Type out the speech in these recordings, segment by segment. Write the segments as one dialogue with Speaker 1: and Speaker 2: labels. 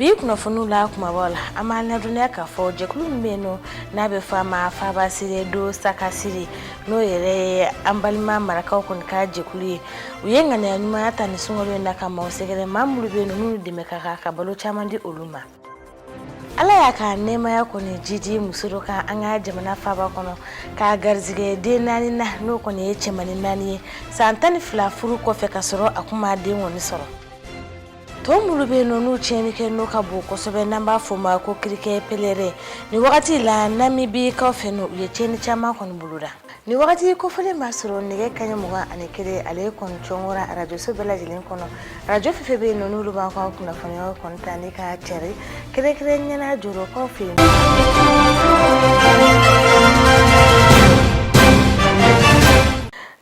Speaker 1: bi kunnafoniw la kumabaw la an b'a ladɔnniya k'a fɔ jɛkulu min bɛ yen nɔ n'a bɛ fɔ a ma fabasire do sakasire n'o yɛrɛ ye an balima marakaw kɔni ka jɛkulu ye u ye ŋaniya ɲumanya ta ni sunkalo in na ka maaw sɛgɛrɛ maa minnu bɛ yen nɔ minnu dɛmɛ ka kan ka balo caman di olu ma ala y'a ka nɛɛmaya kɔni jidi muso dɔ kan an ka jamana faaba kɔnɔ k'a garisigɛ den naani na n'o kɔni ye cɛmani naani ye san tan ni fila furu kɔfɛ ka sɔrɔ a tun ma den kɔni sɔrɔ tɔn minnu bɛ yen nɔ n'u tiɲɛnikɛ nɔ ka bon kosɛbɛ n'an b'a fɔ u ma ko kirikɛ pelerɛn nin wagati la namibikaw fɛ yen u ye tiɲɛni caman kɔni boloda nin wagati kofɔlen b'a sɔrɔ nɛgɛ kaɲɛ mugan ani kelen ale ye kɔni cɔngora arajoso bɛɛ lajɛlen kɔnɔ arajo fɛn fɛn bɛ yen nɔ n'olu b'an ka kunnafoniyaw kɔni ta ni k'a cari kɛrɛnkɛrɛnnenya na jorokaw fɛ yen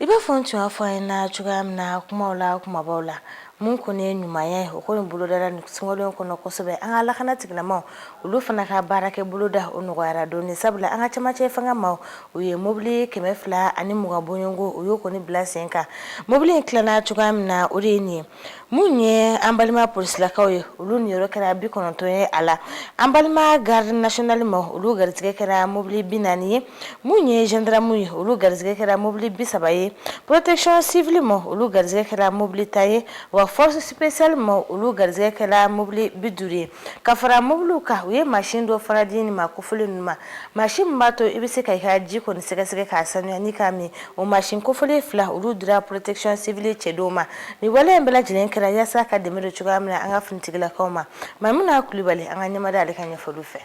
Speaker 1: i b'a fɔ n tun y'a fɔ a ye na cogoya min na kumaw la kumabaw la Mun kɔni ye ɲuman ye o ko in bolodala nin sunkalo kɔnɔ kosɛbɛ an ka lakana tigilamaw olu fana ka baarakɛ boloda o nɔgɔyara dɔɔnin sabula an ka camancɛ fanga maaw ye mobili kɛmɛ fila ani mugan bɔɲɔgɔnko u y'o kɔni bila sen kan mobili in tilana cogoya min na o de ye nin ye minnu ye an balima polisilakaw ye olu niyɔrɔ kɛra bi kɔnɔntɔn ye a la an balima garidi nasiyɔnali maaw olu garijɛgɛ kɛra mobili bi naani ye mun ye zandaramu ye olu garisɛgɛ kɛra mobili bi saba ye porotɛkisɔn siwili maaw olu garisɛgɛ kɛra mobili tan ye wa fɔrɔsi sipesiyali maaw olu garisɛgɛ kɛra mobili bi duuru ye ka fara mobiliw kan u ye masin dɔ fana di maa kofɔlen ninnu ma masin min b'a to i bɛ se ka i ka ji kɔni sɛgɛsɛgɛ k'a sanuya ni k'a min o masin kofɔlen fila olu dira porotɛkisɔn siwili cɛdenw ma nin wale in bɛɛ lajɛlen kɛra yasa ka dɛmɛ don cogoya min na an ka finitigilakaw ma mamuna kulubali an ka ɲɛmada ale ka ɲɛfɔli fɛ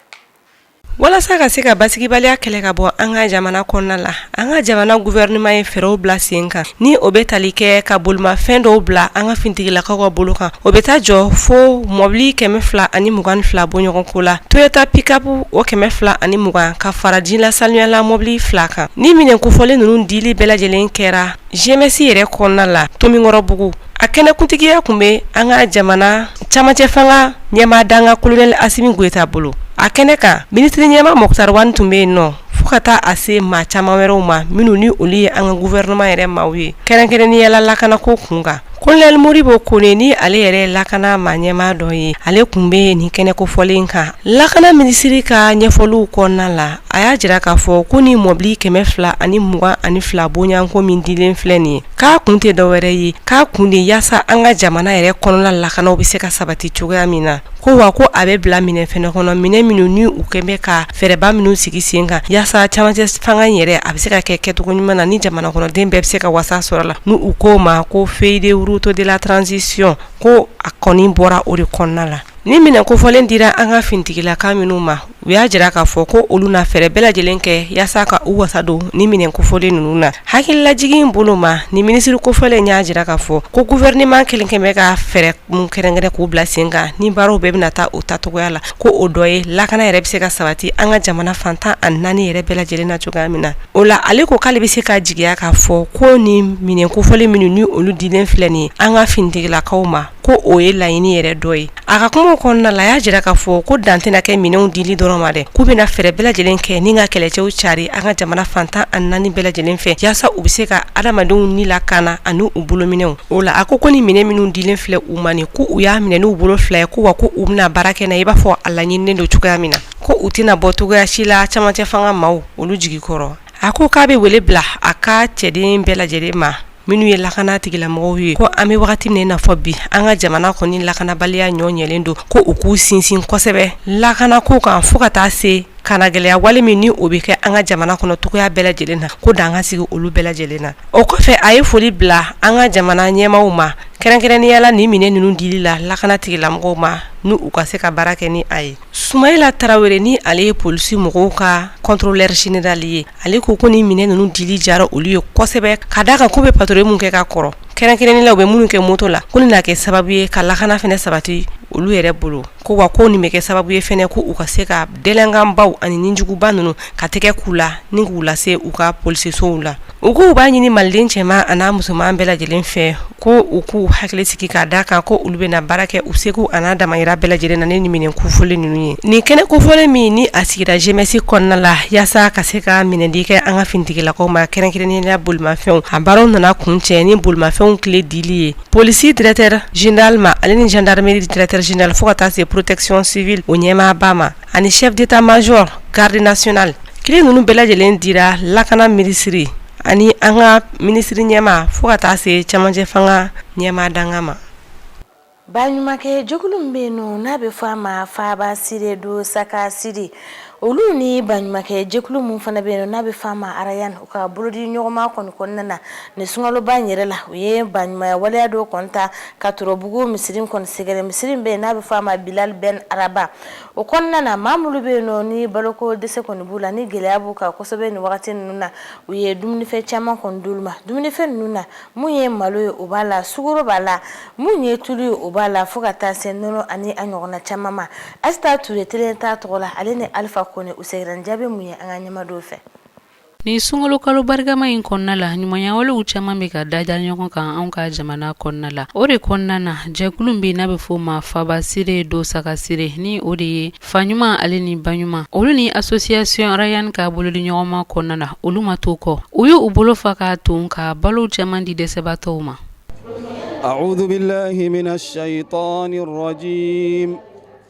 Speaker 2: Walasa ka se ka basigibaliya kɛlɛ ka bɔ an ka jamana kɔnɔna la an ka jamana guwɛrinɛman ye fɛɛrɛw bila sen kan ni o bɛ tali kɛ ka bolomafɛn dɔw bila an ka finitigilakaw ka bolo kan o bɛ taa jɔ fo mɔbili kɛmɛ fila ani mugan fila bɔɲɔgɔnko la toyota pikapu o kɛmɛ fila ani mugan ka fara jilasaniyala mɔbili fila kan nin minɛn kofɔlen ninnu dili bɛɛ lajɛlen kɛra GMS yɛrɛ kɔnɔna la tomikɔrɔbugu a kɛnɛkuntigiya tun bɛ an ka jamana camancɛ fanga ɲɛmaa dankan kolonɛli Asimi Goyita bolo, a kɛnɛ kan minisiri ɲɛmaa Mukutari Wan tun bɛ yen nɔ fo ka taa a se maa caman wɛrɛw ma minnu ni olu ye an ka gouvernement yɛrɛ maaw ye kɛrɛnkɛrɛnnenya la lakanako kun kan colonel Modibo Kone ni ale yɛrɛ ye lakana maa ɲɛmaa dɔ ye ale tun bɛ nin kɛnɛ kofɔlen kan lakana minisiri ka ɲɛfɔliw kɔnɔna la a y'a jira k'a fɔ ko nin mɔbili 222 bɔɲɔgɔnko min dilen filɛ nin ye k'a kun tɛ dɔ wɛrɛ ye k'a kun de yaasa an ka jamana yɛrɛ kɔnɔna lakana o bɛ se ka sabati cogoya min na ko wa ko a bɛ bila minɛ fana kɔnɔ minɛn minnu ni u kɛlen bɛ ka fɛɛrɛba minnu sigi sen kan yaasa camancɛ fanga in yɛrɛ a bɛ se ka kɛ kɛcogo ɲuman na ni jamana kɔnɔden bɛɛ bɛ se ka wasa sɔrɔ a la ni u ko ma ko feuille de route de la transition ko a kɔni bɔra o de kɔnɔna la ni minɛn kofɔlen dira an ka finitigilaka minnu ma u y'a jira k'a fɔ ko olu na fɛɛrɛ bɛɛ lajɛlen kɛ yaasa ka u wasa don ni minɛn kofɔlen ninnu na hakililajigin bolo ma ni minisiri kofɔlen y'a jira k'a fɔ ko gouvernement kelen kɛlen bɛ ka fɛɛrɛ min kɛrɛnkɛrɛn k'u bila sen kan ni baaraw bɛɛ bɛna taa u taacogoya la ko o dɔ ye lakana yɛrɛ bɛ se ka sabati an ka jamana fan tan ani naani yɛrɛ bɛɛ lajɛlen na cogoya min na o la ale ko k'ale bɛ se ka jigiya k'a fɔ ko ni minɛn kofɔlen minnu ni olu dilen filɛ nin an ka finitigilakaw ma ko o ye laɲini yɛrɛ dɔ ye a ka kumaw kɔnɔna la a y'a jira k'a fɔ ko dan tɛna kɛ minɛnw dili dɔrɔn ma dɛ k'u bɛna fɛɛrɛ bɛɛ lajɛlen kɛ ni ka kɛlɛcɛw cari an ka jamana fan tan ani naani bɛɛ lajɛlen fɛ yaasa u bɛ se ka adamadenw ni lakana ani u bolominɛw o la a ko ko ni minɛn minnu dilen filɛ u ma nin ko u y'a minɛ n'u bolo fila ye ko wa ko u bɛna baara kɛ na i b'a fɔ a laɲininen don cogoya min na ko u tɛna bɔ cogoya si la camancɛ fanga maaw olu jigi kɔrɔ a ko k'a bɛ wele bila a ka cɛden bɛɛ lajɛlen ma minnu ye lakana tigilamɔgɔw ye ko an bɛ wagati min na i n'a fɔ bi an ka jamana kɔni lakanabaliya ɲɔ ɲɛlen don ko u k'u sinsin kosɛbɛ lakana ko kan fo ka taa se kannagɛlɛya wale min ni o bɛ kɛ an ka jamana kɔnɔ cogoya bɛɛ lajɛlen na ko dan ka sigi olu bɛɛ lajɛlen na o kɔfɛ a ye foli bila an ka jamana ɲɛmaaw ma kɛrɛnkɛrɛnnenya la ni minɛ ninnu dili la lakana tigilamɔgɔw ma n'u ka se ka baara kɛ ni a ye Sumalayila tarawele ni ale ye polisi mɔgɔw ka contrôleur général ye ale ko ko ni minɛ ninnu dili jara olu ye kosɛbɛ ka d'a kan ko u bɛ patrouille min kɛ ka kɔrɔ kɛrɛnkɛrɛnnenya la u bɛ minnu kɛ moto la ko nin na kɛ sababu ye ka lakana fana sabati olu yɛrɛ bolo ko wa ko nin bɛ kɛ sababu ye fana ko u ka se ka delɛnkanbaw ani nijuguba ninnu ka tɛgɛ k'u la ni k'u lase u ka polisisow la U k'u b'a ɲini maliden cɛman ani n'a musoman bɛɛ lajɛlen fɛ ko u k'u hakili sigi ka d'a kan ko olu bɛna baara kɛ u seko ani a damayira bɛɛ lajɛlen na ni nin minɛ kofɔlen ninnu ye nin kɛnɛ kofɔlen min ni a sigira jemɛsi kɔnɔna la yaasa ka se ka minɛdi kɛ an ka finitigilakaw ma kɛrɛnkɛrɛnnenya la bolimafɛnw a baaraw nana kuncɛ ni bolimafɛnw kile dili ye polisi directeur général ma ale ni jandarimeri directeur général fo ka taa se protection civile o ɲɛmaaba ma ani chef d'état-major garde nationale kile ninnu bɛɛ lajɛlen dira lakana minisiri ani an ka minisiri ɲɛmaa fo ka taa se camancɛ fanga ɲɛmaa dankan ma ba
Speaker 1: ɲumankɛ jɛkulu min bɛ yen nɔ n'a bɛ fɔ a ma faba siri don sakasiri olu ni ba ɲumankɛ jɛkulu min fana bɛ yen n'a bɛ fɔ a ma arayan u ka bolodiɲɔgɔnma kɔnɔna na nin sunkaloba in yɛrɛ la u ye ba ɲumanya waleya dɔ kun ta ka torobugu misiri kɔni sɛgɛrɛ misiri min bɛ yen n'a bɛ fɔ a ma bilali bɛn araba o kɔnɔna na maa minnu bɛ yen nɔ ni baloko dɛsɛ kɔni b'u la ni gɛlɛya b'u kan kosɛbɛ nin wagati ninnu na u ye dumunifɛn caman kɔni d'olu ma dumunifɛn ninnu na mun ye malo ye o b'a la sukoro b'a la mun ye tulu ye o b'a la fo ka taa se nɔnɔ ani a ɲɔgɔnna caman ma Asita Ture telen t'a tɔgɔ la ale ni Alifa Kone u segira ni jaabi mun ye an k'an ɲɛ mada o fɛ Nin
Speaker 3: sunkalo kalo barikama in kɔnɔna la ɲumanyawalew caman bɛ ka dalajɛ ɲɔgɔn kan anw ka jamana kɔnɔna la o de kɔnɔna na jɛkulu bɛ n'a bɛ fɔ ma fabasire do sagasire ni o de ye fa ɲuman ale ni ba ɲuman olu ni association Rayan ka bolodiɲɔgɔnma kɔnɔna na olu ma to kɔ u y' u bolo fa ka tun ka balo caman di dɛsɛbaatɔw ma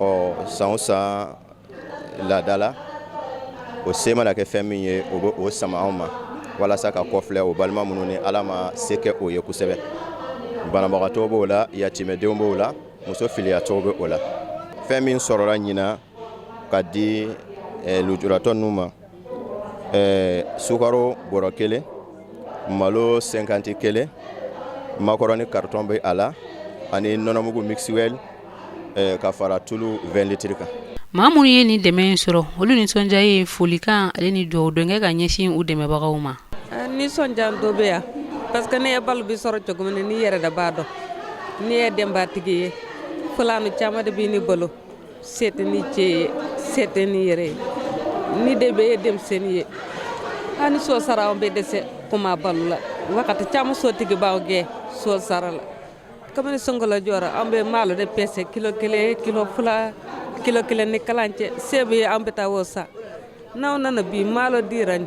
Speaker 4: ɔ san o san laada la o se mana kɛ fɛn min ye o bɛ o sama anw ma walasa ka kɔ filɛ o balima minnu ni ala ma se kɛ o ye kosɛbɛ banabagatɔ b'o la yatimɛdenw b'o la muso filiyatɔw bɛ o la fɛn min sɔrɔla ɲinan ka di eh, lujuratɔ ninnu ma eh, sukaro bɔrɔ kelen malo 50 kelen makɔrɔni karitɔn bɛ a la ani nɔnɔmugu Mixwell eh, ka fara tulu 20 litiri kan maa minnu ye nin
Speaker 3: dɛmɛ in sɔrɔ olu nisɔndiya ye folikan ale ni dugawudon kɛ ka ɲɛsin u dɛmɛbagaw ma eh,
Speaker 5: nisɔndiya dɔ bɛ yan parce que ne ye balo bi sɔrɔ cogo min na ne yɛrɛ de b'a dɔn ne ye denbatigi ye fulanu caman de bɛ ne bolo se tɛ ne cɛ ye se tɛ ne yɛrɛ ye ne den bɛɛ ye denmisɛn ye hali so sara an bɛ dɛsɛ kuma balo la wakati caman so tigi b'an gɛn so sara la kamini sunkalo jɔra an bɛ malo de pese kilo kelen kilo fula kilo kelen ni kalancɛ se bɛ an bɛ taa o san n'aw nana bi malo dir'an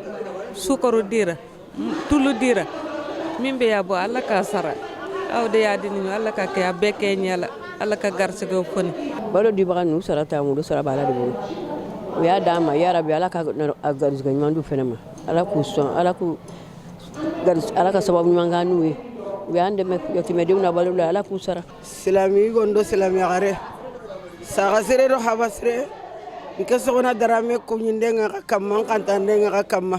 Speaker 5: sukaro dira tulu dira min bɛɛ y'a bɔ ala k'a sara aw de y'a di ɲɔgɔn ala ka kɛ a bɛɛ kɛ ɲɛ la ala ka garisɛgɛw kɔni balo dibaga ninnu
Speaker 6: sara t'an bolo u sara b'ala de bolo u y'a d'an ma ya rabi ala ka garisɛgɛ ɲuman d'u fana ma ala k'u sɔn ala k'u garisɛgɛ ala ka sababu ɲuman kan n'u ye u y'an dɛmɛ yatimɛdenw na balo la ala k'u sara silami yigo
Speaker 7: do silami yaxare saga sire do haba sire n ke Soxona Darame ko ɲin ka ka ka ka kama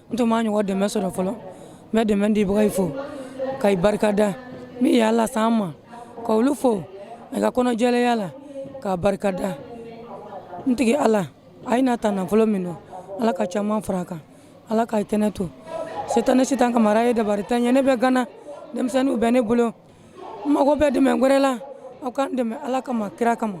Speaker 8: n tun ma ɲɔgɔn dɛmɛ sɔrɔ fɔlɔ n bɛ dɛmɛ dibaga fo ka i barika da min y'a lase an ma ka olu fo a ka kɔnɔjɛlenya la k'a barika da n tigi ala a ye nin ta nafolo min nɔ ala ka caman fara a kan ala ka i tɛnɛ to se tɛ n ye se tɛ n ka mara ye dabari t'an ye ne bɛ gana denmisɛnninw bɛ ne bolo mago bɛ dɛmɛ wɛrɛ la aw k'an dɛmɛ ala kama kira kama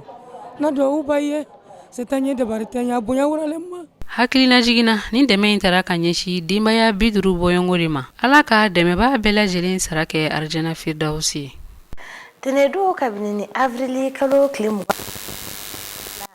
Speaker 8: n'a dɔ b'aw ye se t'an ye dabari t'an ye bonya wɛrɛlen ma
Speaker 3: hakililajigin na ni dɛmɛ in taara ka ɲɛsin denbaya bi duuru bɔɲɔgɔn de ma ala ka dɛmɛbaa bɛɛ lajɛlen sara kɛ arijana firidawusi ye
Speaker 1: tɛnɛndon kabini ni avrili kalo tile mugan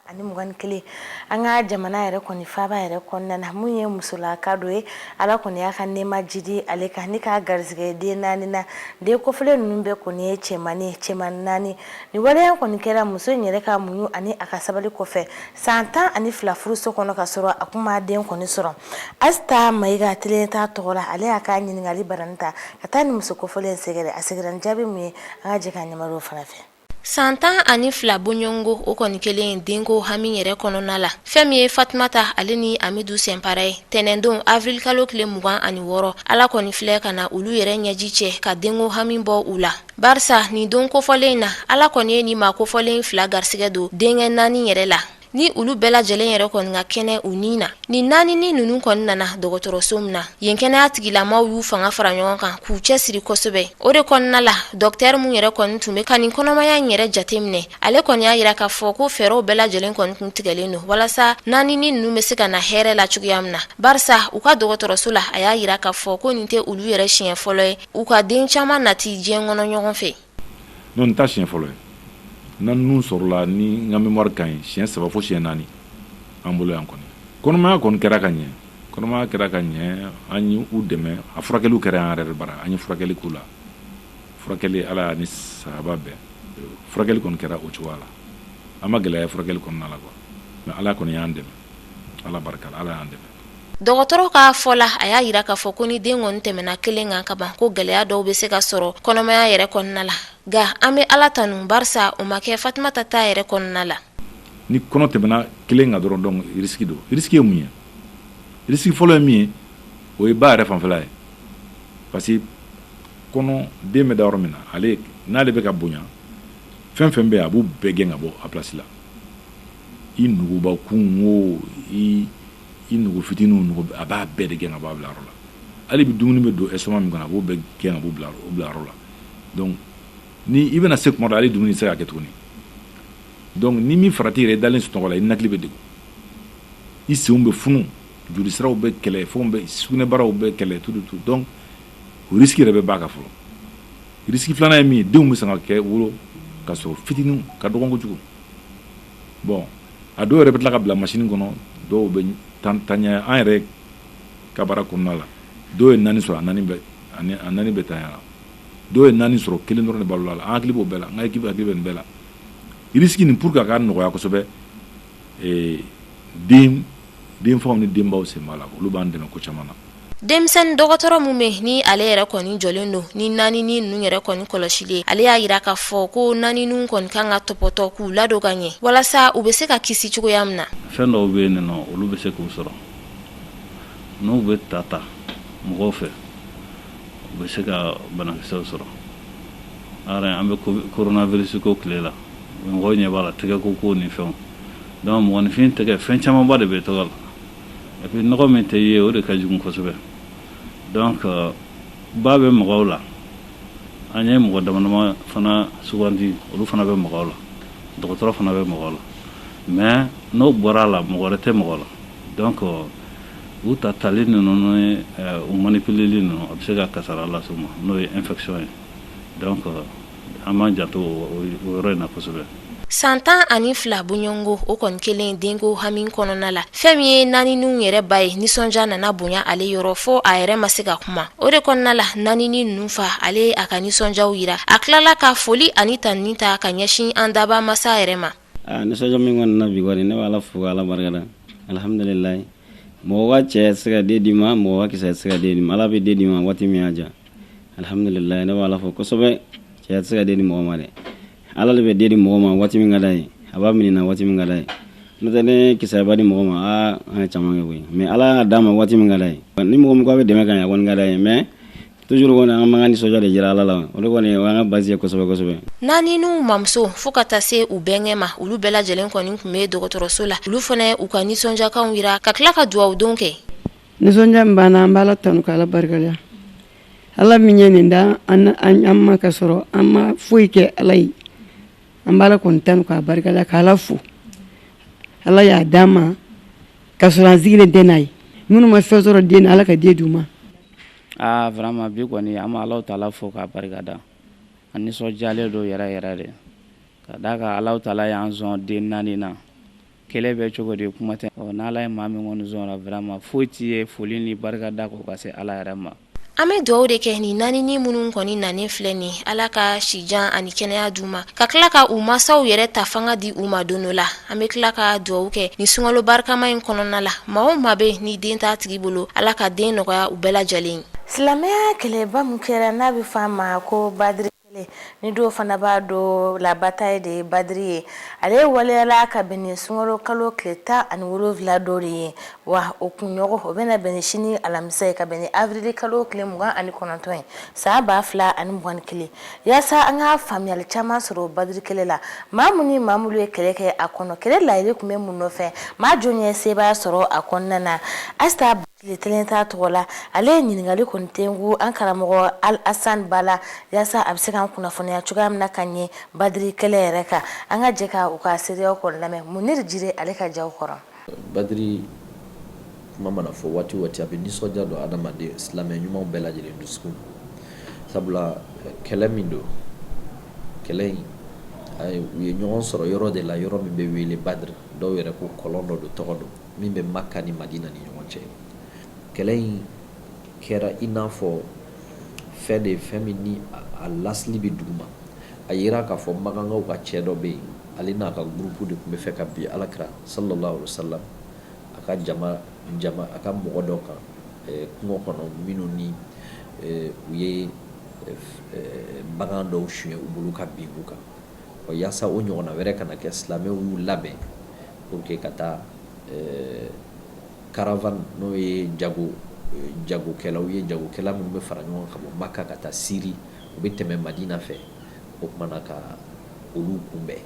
Speaker 1: ani mugan ni kelen an ka jamana yɛrɛ kɔni faaba yɛrɛ kɔnɔna na mun ye musolaka dɔ ye ala kɔni y'a ka nɛɛma jidi ale kan ni k'a garisɛgɛ den naani na den kofɔlen ninnu bɛɛ kɔni ye cɛmani cɛman naani nin waleya kɔni kɛra muso in yɛrɛ ka muɲu ani a ka sabali kɔfɛ san tan ani fila furuso kɔnɔ ka sɔrɔ a tun ma den kɔni sɔrɔ asita mayiga telen t'a tɔgɔ la ale y'a ka ɲininkali barani ta ka taa nin muso kofɔlen sɛgɛrɛ a sɛgɛrɛli jaabi mun ye an ka jɛ ka ɲɛmariw fana fɛ san tan
Speaker 9: ani fila boɲɔgɔnko o kɔni kɛlen ye denko hami yɛrɛ kɔnɔna la fɛn min ye fatumata ale ni amidu sɛnpara ye tɛnɛndon avrilikalo tile mugan ani wɔɔrɔ ala kɔni filɛ ka na olu yɛrɛ ɲɛji cɛ ka denko hami bɔ u la barisa nin don kofɔlen na ala kɔni ye nin maa kofɔlen fila garisigɛ don denkɛ naani yɛrɛ la ni olu bɛɛ lajɛlen yɛrɛ kɔni ka kɛnɛ u ni na ni naaninin ninnu kɔni nana dɔgɔtɔrɔso min na yen kɛnɛya tigilamaw y'u fanga fara ɲɔgɔn kan k'u cɛsiri kosɛbɛ o de kɔnɔna la docteur min yɛrɛ kɔni tun bɛ ka nin kɔnɔmaya in yɛrɛ jate minɛ ale kɔni y'a yira k'a fɔ ko fɛɛrɛw bɛɛ lajɛlen kɔni tun tigɛlen don walasa naaninin ninnu bɛ se ka na hɛrɛ la cogoya min na barisa u ka dɔgɔtɔrɔso la a y'a yira k'a fɔ ko nin tɛ olu yɛrɛ siɲɛ fɔlɔ ye u ka den caman nati diɲɛ kɔnɔ ɲɔgɔn fɛ Non nin
Speaker 10: t'a siɲɛ fɔlɔ ye naani ninnu sɔrɔla ni n ka mémoire ka ɲi siɲɛ saba fo siɲɛ naani an bolo yan kɔni kɔnɔmaya kɔni kɛra ka ɲɛ kɔnɔmaya kɛra ka ɲɛ an ye u dɛmɛ a furakɛliw kɛra an yɛrɛ bara an ye furakɛli k'u la furakɛli ala ni saba bɛɛ furakɛli kɔni kɛra o cogoya la an ma gɛlɛya furakɛli kɔnɔna la quoi mais ala kɔni y'an dɛmɛ ala barika ala y'an dɛmɛ dɔgɔtɔrɔ ka
Speaker 9: fɔ la a y'a yira k'a fɔ ko ni den kɔni tɛmɛna kelen kan ka ban ko gɛlɛya dɔw bɛ se ka sɔrɔ kɔnɔmaya yɛrɛ kɔnɔna la nka an bɛ ala tanu barisa o ma kɛ fatumata ta yɛrɛ kɔnɔna la ni kɔnɔ
Speaker 10: tɛmɛna kelen kan dɔrɔn donc risiki don risiki ye mun ye risiki fɔlɔ ye min ye o ye ba yɛrɛ fanfɛla ye parce que kɔnɔ den bɛ da yɔrɔ min na ale n'ale bɛ ka bonya fɛn fɛn bɛ yen a b'u bɛɛ gɛn ka bɔ a place la i nuguba kun o i i nugu fitinin nugu a b'a bɛɛ de gɛn ka bɔ bila yɔrɔ la hali bi dumuni bɛ don estomac min kɔnɔ a b'o bɛɛ gɛn ka bɔ bila yɔrɔ la donc ni i bɛna se tuma dɔ ale dumuni tɛ se ka kɛ tuguni donc ni min farati yɛrɛ i dalen sunɔgɔ la i ninakili bɛ degun i senw bɛ funu joli siraw bɛ kɛlɛ fɛnw bɛ sugunɛbaraw bɛ kɛlɛ tout tout donc risiki yɛrɛ bɛ ba kan fɔlɔ risiki filanan ye min ye denw bɛ se ka kɛ wolo ka sɔrɔ fitinin ka dɔgɔ kojugu bon a dɔw yɛrɛ bɛ tila ka bila machine kɔnɔ dɔw bɛ tan tanya an yɛrɛ ka baara kɔnɔna la dɔw ye naani sɔrɔ a naani bɛɛ tanyara dɔw ye naani sɔrɔ kelen dɔrɔn de balola an hakili b'o bɛɛ la n ka équipe hakili bɛ nin bɛɛ la risiki nin pour que a ka nɔgɔya kosɛbɛ den denfaw ni denbaw sen b'a la olu b'an dɛmɛ ko caman na denmisɛnnin
Speaker 9: dɔgɔtɔrɔ min bɛ ni ale yɛrɛ kɔni jɔlen don ni naaninin ninnu yɛrɛ kɔni kɔlɔsili ye ale y'a jira k'a fɔ ko naanininw kɔni kan ka tɔpɔtɔ k'u ladon ka ɲɛ walasa u bɛ se ka kisi cogoya min na fɛn dɔw bɛ yen
Speaker 11: n'olu bɛ se k'u sɔrɔ n'u bɛ ta ta mɔgɔw fɛ u bɛ se ka banakisɛw sɔrɔ an bɛ coronavirus ko tile la mɔgɔw ɲɛ b'a la tɛgɛko ko ni fɛnw Donc mɔgɔninfin tɛgɛ fɛn camanba de bɛ tɔgɔ la et puis nɔgɔ min tɛ ye o de ka jugu kosɛbɛ donc ba bɛ maga u la an ye mɔgɔ damadama fana sugandi olu fana bɛ maga u la dɔgɔtɔrɔ fana bɛ maga u la mais n'o bɔra a la mɔgɔ wɛrɛ tɛ maga u la donc u tatali ninnu ni u manipuleli ninnu a bɛ se ka kasara lase u ma n'o ye infection ye donc an ja san
Speaker 9: tan ani fila bɔɲɔgɔnko o kɔni kɛlen denko hami kɔnɔna la fɛn min ye naanininw yɛrɛ ba ye nisɔndiya nana bonya ale yɔrɔ fo a yɛrɛ ma se ka kuma o de kɔnɔna la naaninin ninnu fa ale y'a ka nisɔndiya jira a tilala ka foli ani tanuni ta ka ɲɛsin an dabaa masa yɛrɛ ma Aa nisɔndiya min
Speaker 12: kɔni na bi kɔni ne bɛ Ala fo ka Ala barikada alihamidulilaahi mɔgɔ ka cɛ tɛ se ka den d'i ma mɔgɔ ka kisɛ tɛ se ka den d'i ma Ala bɛ den d'i ma waati min y'a diya alihamidulilaahi ne bɛ Ala fo kosɛbɛ cɛya tɛ se ka den di mɔgɔ ma dɛ Ala de bɛ den di mɔgɔ ma waati min ka d'a ye a b'a minɛ na waati min ka d'a ye n'o tɛ ni kisɛ b'a di mɔgɔ ma aa an ye caman kɛ koyi mais Ala y'a d'an ma waati min ka d'a ye ni mɔgɔ min ko a bɛ dɛmɛ k'an ye a kɔni ka d'an ye mais Toujours kɔni an b'an ka nisɔndiya de jira Ala la o de kɔni o y'an ka base ye kosɛbɛ kosɛbɛ, naaninin ninnu
Speaker 9: mamuso fo ka taa se u bɛnkɛ ma olu bɛɛ lajɛlen kɔni tun bɛ dɔgɔtɔrɔso la olu fana ye u ka nisɔndiyakanw jira ka tila ka dugawudonw kɛ. Nisɔndiya min b'an
Speaker 6: na an bɛ Ala tanu ka Ala barikada Ala min ye nin d'an ma ka sɔrɔ an ma foyi kɛ Ala ye an bɛ Ala kɔni tanu k'a barikada ka Ala fo Ala y'a d'an ma ka
Speaker 13: sɔrɔ an sigilen tɛ n'a ye minnu ma fɛn sɔrɔ den na Ala ka den d'u ma. Aa
Speaker 12: vraiment bi kɔni an bɛ Alahu taala fo k'a barikada, an nisɔndiyalen don yɛrɛ yɛrɛ de, ka d'a kan Alahu taala y'an sɔn den 4 in na, kelen bɛ cogo di kuma tɛ, ɔ n'Ala ye maa min kɔni sɔn o la vraiment foyi t'i ye foli ni barikada kɔ ka se Ala yɛrɛ ma. An bɛ dugawu
Speaker 9: de kɛ nin naaninin minnu kɔni nanen filɛ nin ye, Ala ka sijan ani kɛnɛya d'u ma, ka tila ka u mansaw yɛrɛ ta fanga di u ma don dɔ la. an bɛ tila ka dugawu kɛ nin sunkalo barikama in kɔnɔna la maa o maa bɛ ni den t'a tigi bolo ala ka den nɔgɔya u bɛɛ lajɛlen ye silamɛya
Speaker 1: kɛlɛba min kɛra n'a bɛ fɔ a ma ko badiri kɛlɛ ni dɔw fana b'a dɔn la bataille de badiri ye ale waleyala ka bɛn ni sunkalo kalo tile tan ani wolonwula don de ye wa o kunɲɔgɔn o bɛna bɛn ni sini alamisa ye ka bɛn ni avrili kalo tile mugan ani kɔnɔntɔn ye san ba fila ani mugan ni kelen Yaasa an ka faamuyali caman sɔrɔ badri kɛlɛ la maa minnu ni maa minnu ye kɛlɛ kɛ a kɔnɔ kɛlɛ layiri tun bɛ mun nɔfɛ maa jɔn ye sebaaya sɔrɔ a kɔnɔna na asta tile kelen ta tɔgɔ la ale ye ɲininkali kɔni tɛnku an karamɔgɔ alasan ba la yaasa a bɛ se k'an kunnafoniya cogoya min na ka ɲɛ badri kɛlɛ yɛrɛ kan an ka jɛ ka u ka seereyaw kɔni lamɛn muniri jire ale ka jaw kɔrɔ
Speaker 14: Badiri kuma mana fɔ waati o waati a bɛ nisɔndiya don adamaden silamɛ ɲumanw bɛɛ lajɛlen dusukun sabula kɛlɛ min don kɛlɛ in u ye ɲɔgɔn sɔrɔ yɔrɔ de la yɔrɔ min bɛ wele Badiri dɔw yɛrɛ ko kɔlɔn dɔ don tɔgɔ don min bɛ Maka ni Madina ni ɲɔgɔn cɛ kɛlɛ in kɛra i n'a fɔ fɛn de fɛn min ni a lasili bɛ duguma a yira k'a fɔ magankaw ka cɛ dɔ bɛ yen Ale n'a ka gurupu de tun bɛ fɛ ka bin alakira salalahu alayihi wa salam a ka a ka mɔgɔ dɔ kan kungo kɔnɔ minnu ni u ye bagan dɔw suɲɛ u bolo ka bin u kan o yaasa o ɲɔgɔnna wɛrɛ kana kɛ silamɛw y'u labɛn pour que ka taa caravane n'o ye jagokɛlaw ye jagokɛla minnu bɛ fara ɲɔgɔn ka bɔ maka ka taa siri u bɛ tɛmɛ madina fɛ o kumana ka olu kunbɛn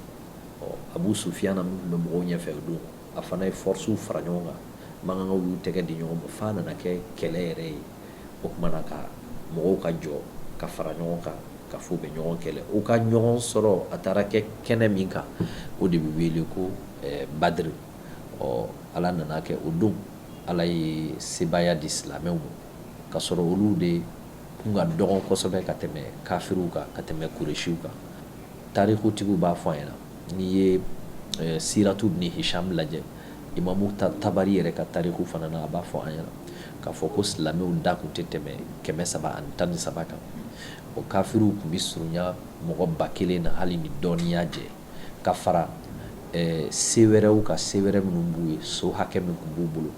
Speaker 14: ɔ abu sufiyana min tun bɛ mɔgɔw ɲɛfɛ o don a fana ye fɔrisiw fara ɲɔgɔn kan magankaw y'u tɛgɛ di ɲɔgɔn ma f'a nana kɛ kɛlɛ yɛrɛ ye o kumana ka mɔgɔw ka jɔ ka fara ɲɔgɔn kan ka fɔ u bɛ ɲɔgɔn kɛlɛ u ka ɲɔgɔn sɔrɔ a taara kɛ kɛnɛ min kan o de bɛ wele ko eh, badiri ɔ ala nana kɛ o don ala ye sebaaya di silamɛw ma ka sɔrɔ olu de kun ka dɔgɔn kosɛbɛ ka tɛmɛ kafiriw kan ka tɛmɛ kuresiw kan tarikutigiw b'a fɔ an ɲɛna n'i ye eh, siratu ibn hisham lajɛ imamu tabari yɛrɛ ka tariku fana na a b'a fɔ an ɲɛna k'a fɔ ko silamɛw da kun tɛ tɛmɛ kɛmɛ saba ani tan ni saba kan o kafiriw kun bɛ surunya mɔgɔ ba kelen na hali ni dɔɔnin y'a jɛ ka fara eh, se wɛrɛw kan se wɛrɛ minnu b'u ye so hakɛ min kun b'u bolo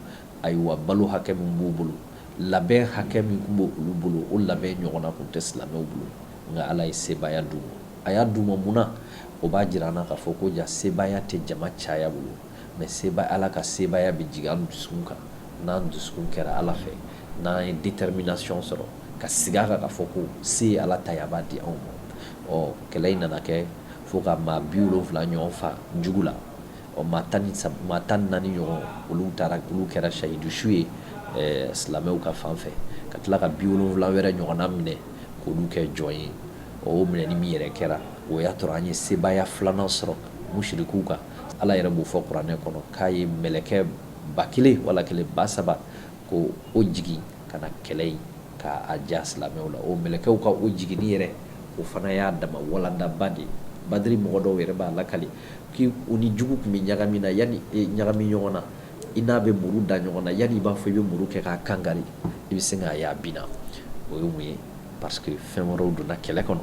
Speaker 14: ayiwa balo hakɛ min b'u bolo Labɛn hakɛ min kun b'olu bolo, o labɛn ɲɔgɔnna kun tɛ silamɛw bolo, nka Ala ye sebaaya d'u ma. A y'a d'u ma mun na? O b'a jira an na k'a fɔ ko ja sebaaya tɛ jama caya bolo, mais seba Ala ka sebaaya bɛ jigin an dusukun kan, n'an dusukun kɛra Ala fɛ, n'an ye determination sɔrɔ ka sigi a kan k'a fɔ ko se ye Ala ta ye, a b'a di anw ma. Ɔ kɛlɛ in nana kɛ fo ka maa 70 ɲɔgɔn faa jugu la. Ɔ maa tan ni sab maa 14 ɲɔgɔn olu taara k'olu kɛra sahidu su ye ɛɛ silamɛw ka fan fɛ ka tila ka 70 wɛrɛ ɲɔgɔnna minɛ k'olu kɛ jɔn ye ɔ o minɛni min yɛrɛ kɛra o y'a tɔrɔ an ye sebaaya filanan sɔrɔ mushirikuw kan Ala yɛrɛ b'o fɔ kuranɛ kɔnɔ k'a ye mɛlɛkɛ ba kelen wala ba saba k'o jigin ka na kɛlɛ in k'a ja silamɛw la o mɛlɛkɛw ka o jiginni yɛrɛ o fana y'a dama walandaba de ye badiri mɔgɔ dɔw yɛrɛ b'a lakali K' u ni jugu tun bɛ ɲagami na yanni ɲagami ɲɔgɔn na i n'a bɛ muru da ɲɔgɔn na yanni i b'a fɔ i bɛ muru kɛ k'a kan ka i bɛ se k'a ye a binna o ye mun ye parce que fɛn wɛrɛw donna kɛlɛ kɔnɔ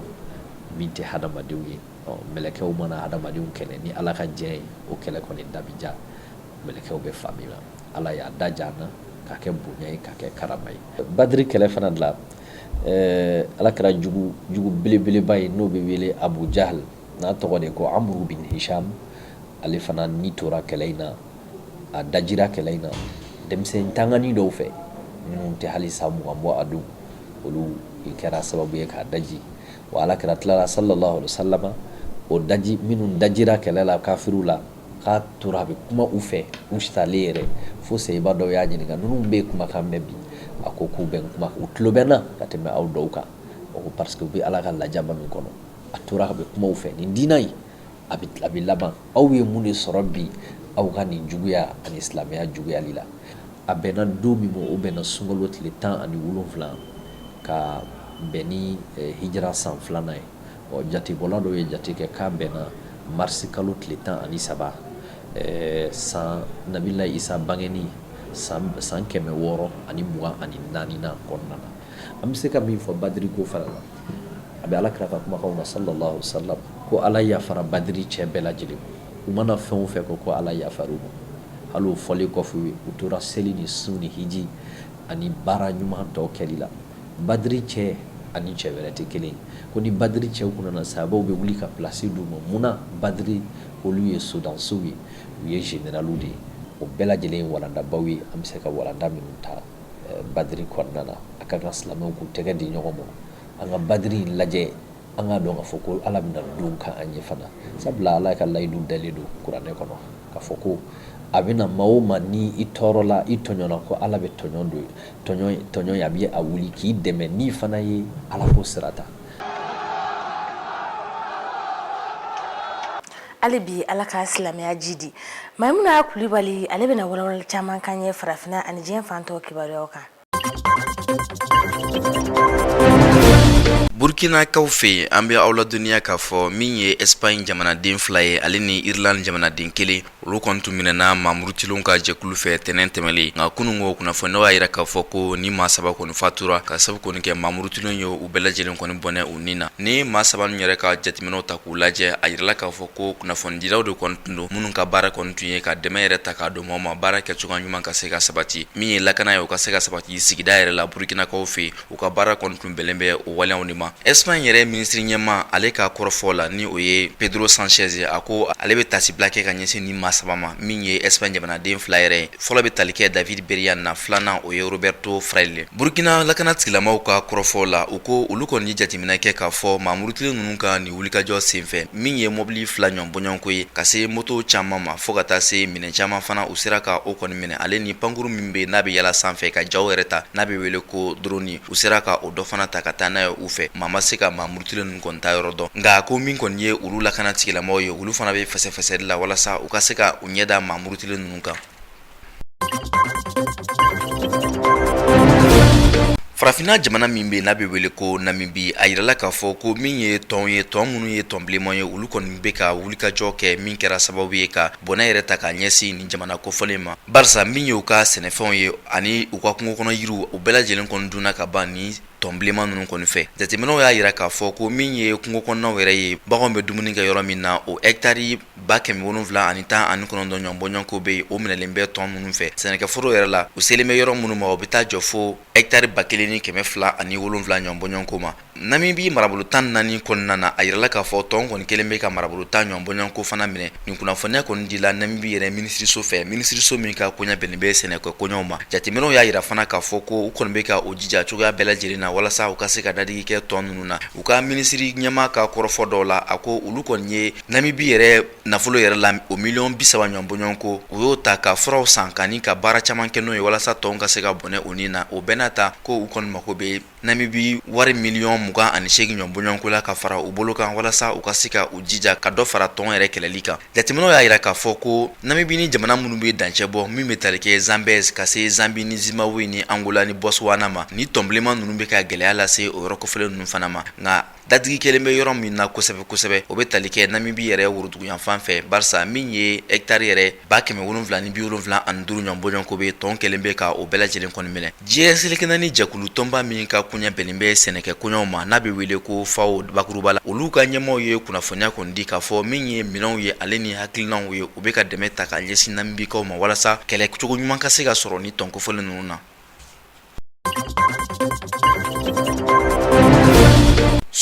Speaker 14: min tɛ hadamadenw ye mɛlɛkɛw mana hadamadenw kɛlɛ ni ala ka diɲɛ ye o kɛlɛ kɔni da bɛ ja mɛlɛkɛw bɛ fan min na ala y'a da ja an na k'a kɛ bonya ye k'a kɛ karama ye badiri kɛlɛ fana de la ala kira jugu belebeleba ye n'o bɛ wele Abu Jahl n'a tɔgɔ de ko amuru bin hisham ale fana ni tora kɛlɛ in na a dajira kɛlɛ in na denmisɛn tangani dɔw fɛ minnu tɛ hali san mugan bɔ a don olu kɛra sababu ye k'a daji wa ala kira tilala sallallahu alaihi wa sallam o daji minnu dajira kɛlɛ la kafiriw la k'a tora a bɛ kuma u fɛ u salen yɛrɛ fo sahaba dɔw y'a ɲininka ninnu bɛ kumakan mɛn bi a ko k'u bɛ n kuma u tulo bɛ n na ka tɛmɛ aw dɔw kan o ko parce que u bɛ ala ka lajaba min kɔnɔ a tora a bɛ kuma u fɛ nin diinɛ in a bɛ laban aw ye mun de sɔrɔ bi aw ka nin juguya ani silamɛya juguyali la a bɛnna don min ma o bɛnna sunkalo tile tan ani wolonwula ka bɛn ni eh, hijira san filanan ye ɔ jatebɔla dɔw ye jate kɛ k'a bɛnna marisi kalo tile tan ani saba eh, san nabilayi isa bangeni san san kɛmɛ wɔɔrɔ ani mugan ani naani na kɔnɔna na an bɛ se ka min fɔ badiri ko fana na a bɛ ala kira ka kumakanw na sallallahu alaihi wasallam ko ala yafara badri cɛ bɛɛ lajɛlen u mana fɛn o fɛn kɛ ko ala yafara u ma hali o fɔlen kɔfɛ ye u tora seli ni sun ni hiji ani baara ɲuman tɔw kɛli la badri cɛ ani cɛ wɛrɛ tɛ kelen ko ni badri cɛw kun nana sahabaw bɛ wuli ka plasi di u ma mun na badri olu ye sodansow ye u ye zeneraliw de ye o bɛɛ lajɛlen ye walandabaw ye an bɛ se ka walanda minnu ta badiri kɔnɔna na a ka kan silamɛw k'u tɛgɛ di ɲɔgɔn ma an ka badiri in lajɛ an k'a dɔn k'a fɔ ko ala bɛna dɔ kɛ an ye fana sabula ala ka layidu dalen don kuranɛ kɔnɔ k'a fɔ ko a bɛna maa o maa ni i tɔɔrɔla i tɔɲɔna ko ala bɛ tɔɲɔ ye a bɛ a wuli k'i dɛmɛ n'i fana ye ala ko sira ta
Speaker 1: hali bi ala ka silamɛya jiidi mayimuna kulibali ale bɛna walawala caman kan ye farafinna ani diɲɛ fantɔ kibaruyaw kan
Speaker 15: burkinakaw fɛ an bɛ aw ladɔnniya k'a fɔ min ye espagne jamanaden fila ye ale ni irlande jamanaden kelen olu kɔni tun minɛna maa murutilenw ka jɛkulu fɛ tɛnɛn tɛmɛlen nka kunun ko kunnafoniyaw y'a yira k'a fɔ ko ni maa saba kɔni fatura ka sabu kɔni kɛ maa murutilenw ye u bɛɛ lajɛlen kɔni bɔnɛ u ni na ni maa saba ninnu yɛrɛ ka jateminɛw ta k'u lajɛ a yirala k'a fɔ ko kunnafonidilaw de kɔni tun don minnu ka baara kɔni tun ye ka dɛmɛ yɛrɛ ta k'a don maaw ma baara kɛ cogoya ɲuman ka se ka sabati min ye lakana ye o ka se ka sabati sigida yɛrɛ la burukinakaw fɛ u ka baara kɔni tun bɛnlen bɛ o waleyaw de ma espagne yɛrɛ minisiri ɲɛma ale ka kɔrɔfɔ la ni o ye pedro sanchez ye a ko ale bɛ tasibila kɛ ka ɲɛsin ni maa saba ma min ye espagne jamanaden fila yɛrɛ ye fɔlɔ bɛ tali kɛ david beriain na filanan o ye roberto fraile Burukina lakana tigilamaw ka kɔrɔfɔ la u ko olu kɔni ye jateminɛ kɛ k'a fɔ maa murutilen ninnu ka nin wulikajɔ senfɛ min ye mɔbili fila ɲɔgɔn bɔɲɔgɔnko ye ka se moto caman ma fo ka taa se minɛn caman fana u sera ka o kɔni minɛ ale ni pankurun min bɛ n'a bɛ yala sanfɛ ka jaw yɛrɛ ta n'a bɛ wele ko drone u sera ka o dɔ fana ta ka taa n'a ye u fɛ maa ma se ka maa murutilen ninnu kɔni taayɔrɔ dɔn nka ko min kɔni ye olu lakana tigilamɔgɔw ye olu fana bɛ fɛsɛfɛsɛli la walasa u ka se ka u ɲɛ da maa murutilen ninnu kan farafinna jamana min bɛ n'a bɛ wele ko namibi a yirala k'a fɔ ko min ye tɔn ye tɔn minnu ye tɔn bilenman ye olu kɔni bɛ ka wulikajɔ kɛ min kɛra sababu ye ka bɔnɛ yɛrɛ ta k'a ɲɛsin nin jamana kofɔlen ma barisa min ye u ka sɛnɛfɛnw ye ani u ka kungo kɔnɔ yiriw u bɛɛ lajɛlen kɔni dunna ka ban ni tɔn bilenman ninnu kɔni fɛ jateminɛw y'a yira k'a fɔ ko min ye kungo kɔnɔnaw yɛrɛ ye baganw bɛ dumuni kɛ yɔrɔ min na o hɛkitari Ba kɛmɛ wolonwula ani tan ani kɔnɔntɔn ɲɔgɔn bɔɲɔgɔnko bɛ yen o minɛlen bɛ tɔn minnu fɛ sɛnɛkɛforo yɛrɛ la u selen bɛ yɔrɔ minnu ma o bɛ taa jɔ fo hɛkitari ba kelen ni kɛmɛ fila ani wolonwula ɲɔgɔn bɔɲɔgɔnko ma namibi marabolo tan naani kɔnɔna na a yirala k'a fɔ tɔn kɔni kelen bɛ ka marabolo tan ɲɔgɔn bɔɲɔgɔnko fana minɛ nin kunnafoniya kɔni dila namibi yɛrɛ minisiriso fɛ minisiriso min ka koɲɛ bɛnnen bɛ sɛnɛkɛ koɲɛw ma jateminɛw y'a yira fana k'a fɔ ko u kɔni bɛ ka u jija cogoya bɛɛ lajɛlen na walasa u ka se ka dadigi kɛ tɔn ninnu na u ka minisiri ɲɛma ka kɔrɔfɔ dɔw la a ko olu kɔni ye Namibi yɛrɛ nafolo yɛrɛ la o miliyɔn bi saba ɲɔgɔn bɔɲɔgɔnko u y'o ta ka furaw san kani ka baara caman kɛ n'o ye walasa tɔn ka se ka bɔnɛ u ni na o bɛɛ n'a ta ko u kɔni mako bɛ namibi wari miliyɔn mugan ani seegin ɲɔgɔn bɔɲɔgɔnko la ka fara u bolo kan walasa u ka se ka u jija ka dɔ fara tɔn yɛrɛ kɛlɛli kan jateminɛw y'a yira k'a fɔ ko namibi ni jamana minnu bɛ dancɛ bɔ min bɛ tali kɛ zambèze ka se zambi ni zimbabwe ni angola ni botswana ma ni tɔnbilenman ninnu bɛ ka gɛlɛya lase o yɔrɔ kofɔlen ninnu fana ma nka Dadigi kɛlen bɛ yɔrɔ min na kosɛbɛ kosɛbɛ o bɛ tali kɛ Namibi yɛrɛ woroduguyanfan fɛ barisa min ye hɛkitari yɛrɛ ba kɛmɛ wolonwula ni biwolonwula ani duuru ɲɔgɔn bɔɲɔgɔnko bɛ tɔn kɛlen bɛ ka o bɛɛ lajɛlen kɔni minɛ diɲɛ seleke naani jɛkulu tɔnba min ka koɲɛ bɛnnen bɛ sɛnɛkɛ koɲɛw ma n'a bɛ wele ko FAO bakuruba la olu ka ɲɛmaaw ye kunnafoniya kɔni di k'a fɔ min ye minɛnw ye ale ni hakilinaw ye u bɛ ka dɛmɛ ta ka ɲɛsin Namibikaw ma walasa kɛlɛcogo ɲuman ka se ka sɔrɔ nin tɔn kofɔlen ninnu na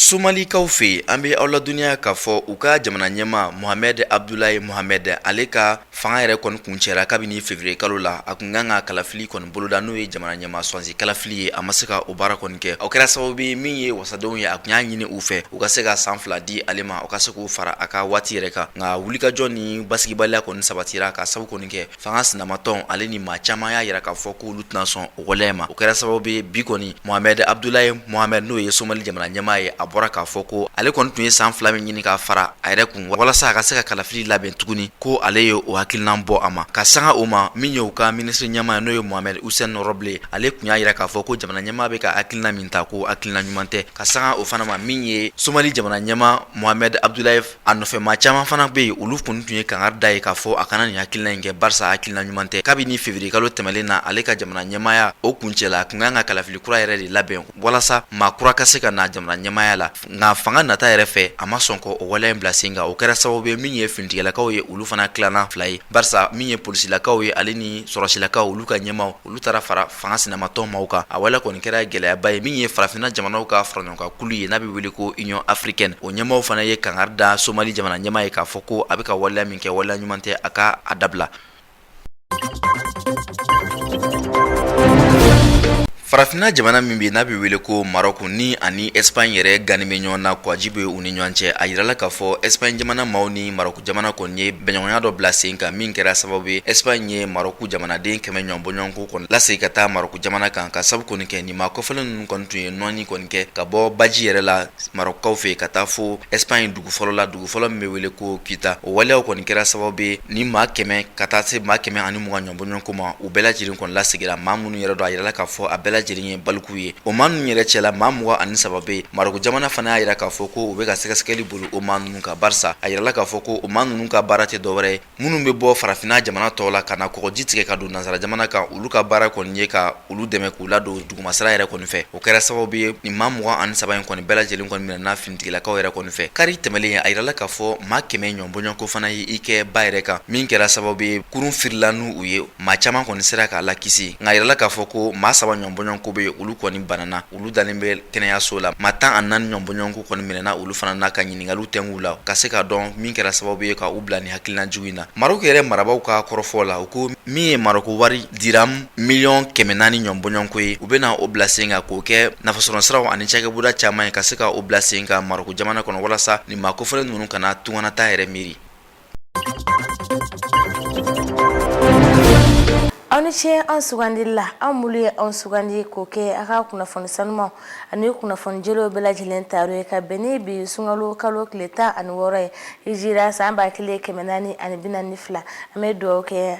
Speaker 15: Somalikaw fɛ an bɛ aw ladɔnniya k'a fɔ u ka jamana ɲɛmaa Mohamed Abdoulaye Mohamed ale ka fanga yɛrɛ kɔni kuncɛra kabini février kalo la a kun kan ka kalafili kɔni boloda n'o ye jamana ɲɛmaa sugandi kalafili ye a ma se ka o baara kɔni kɛ o kɛra sababu ye min ye wasadenw ye a kun y'a ɲini u fɛ u ka se ka san fila di ale ma o ka se k'o fara a ka waati yɛrɛ kan nka wulikajɔ ni basigibaliya kɔni sabatira ka sabu kɔni kɛ fanga sinamatɔn ale ni maa caman y'a yira k'a fɔ k'olu tɛna sɔn o waleya ma o kɛra sababu ye bi kɔni mohamɛd abudulayi mohamɛd n'o ye somali jamana ɲɛmaa ye a bɔra k'a fɔ ko ale kɔni tun ye san fila min ɲini k'a fara a yɛrɛ kun walasa a ka se ka kalafili labɛn tuguni ko ale ye o hakilinan bɔ a ma ka sanga o ma min ye u ka minisiri ɲɛmaa ye n'o ye mohamɛd usɛn rɔbile ale kun y'a yira k'a fɔ ko jamana ɲɛmaa bɛ ka hakilina min ta ko hakilina ɲuman tɛ ka sanga o fana ma min ye somali jamana ɲɛmaa mohamɛd abudulayi A nɔfɛ maa caman fana bɛ yen olu kɔni tun ye kangari d'a ye k'a fɔ a kana nin hakilina in kɛ barisa hakilina ɲuman tɛ kabini février kalo tɛmɛnen na ale ka jamana ɲɛmaaya o kuncɛla a kun kan ka kalafili kura yɛrɛ de labɛn walasa maa kura ka se ka na jamana ɲɛmaaya la nka fanga nata yɛrɛ fɛ a ma sɔn k'o waleya in bila sen kan o kɛra sababu ye min ye finitigilakaw ye olu fana tilana fila ye barisa min ye polisilakaw ye ale ni sɔrɔdasilakaw olu ka ɲɛmaaw olu taara fara fanga sinamatɔn maaw kan a waleya kɔni kɛra gɛlɛyaba ye min ye farafinna jamanaw ka faraɲɔgɔnkankulu ye n'a bɛ wele ko Union africaine o ɲɛmaaw fana ye kangari da somali jamana ɲɛmaa ye k'a fɔ ko a bɛ ka waleya min kɛ waleya ɲuman tɛ a ka a dabila farafinna jamana min bɛ n'a bɛ wele ko marɔku ni ani Espagne yɛrɛ gannen bɛ ɲɔgɔn na kɔgɔji bɛ u ni ɲɔgɔn cɛ a yirala k'a fɔ Espagne jamana maaw ni marɔku jamana kɔni ye bɛnɲɔgɔnya dɔ bila sen kan min kɛra sababu ye Espagne ye marɔku jamanaden kɛmɛ ɲɔgɔn bɔɲɔgɔnko kɔni lasegin ka taa Marɔku jamana kan ka sabu kɔni kɛ nin maa kofɔlen ninnu kɔni tun ye nɔɔni kɔni kɛ ka bɔ baji yɛrɛ la Marɔkukaw fɛ ka taa fo Espagne dugu fɔlɔ la dugu fɔlɔ min bɛ wele ko Kita o waleyaw kɔni kɛra sababu ye ni maa kɛmɛ ka taa se maa kɛmɛ ani mugan ɲɔgɔn bɔɲɔgɔnko ma u bɛɛ lajɛlen kɔni lasegira maa minnu yɛrɛ don a yirala k'a fɔ a bɛɛ lajɛlen ye balikuw ye o maa ninnu yɛrɛ cɛla maa mugan ani saba bɛ yen Marɔku jamana fana y'a yira k'a fɔ ko u bɛ ka sɛgɛsɛgɛli boli o maa ninnu kan barisa a yirala k'a fɔ ko o maa ninnu ka baara tɛ dɔwɛrɛ ye minnu bɛ bɔ farafinna jamana tɔw la ka na kɔgɔji tigɛ ka don nansara jamana kan olu ka baara kɔni ye ka olu dɛmɛ k'u ladon dugumasira yɛrɛ kɔni fɛ o kɛra sababu ye nin maa mugan ani saba in kɔni bɛɛ lajɛlen kɔni minɛna finitigilakaw yɛrɛ kɔni fɛ kari tɛmɛlen a yirala k'a fɔ maa kɛmɛ ɲɔgɔn bɔɲɔgɔnko fana ye i kɛ ba yɛrɛ kan min kɛra sababu ye kurun firila n'u ye maa caman kɔni sera ka lakisi nka a yirala k'a fɔ ko maa saba ɲɔgɔn bɔɲɔgɔnko bɛ yen olu kɔni banna olu dalen bɛ kɛnɛyaso la maa tan ani naani ɲɔgɔn bɔɲɔgɔnko kɔni minɛna olu fana n'a ka ɲininkali tɛngu la ka se k'a dɔn min kɛra sababu ye ka u bila ni hakilina jugu in na maroku yɛrɛ marabaw ka kɔrɔfɔ la u ko min ye maroku wari diram miliyɔn kɛmɛ naani ɲɔgɔn bɔɲɔgɔnko ye u bɛna o bila sen kan k'o kɛ nafasɔrɔ siraw ani cakɛbɔda caman ye ka se ka o bila sen kan maroku jamana kɔnɔ walasa nin maa kofɔlen ninnu kana tungannataa yɛrɛ miiri
Speaker 1: aw ni ce an sugandili la aw mulu ye an sugandi k'o kɛ a ka kunnafoni sanumaw ani kunnafoni jɛlenw bɛɛ lajɛlen tayɔrɔ ye ka bɛn ni bi sunkalo kalo tile tan ani wɔɔrɔ ye hijira san ba kelen kɛmɛ naani ani bi naani ni fila an bɛ dugawu kɛ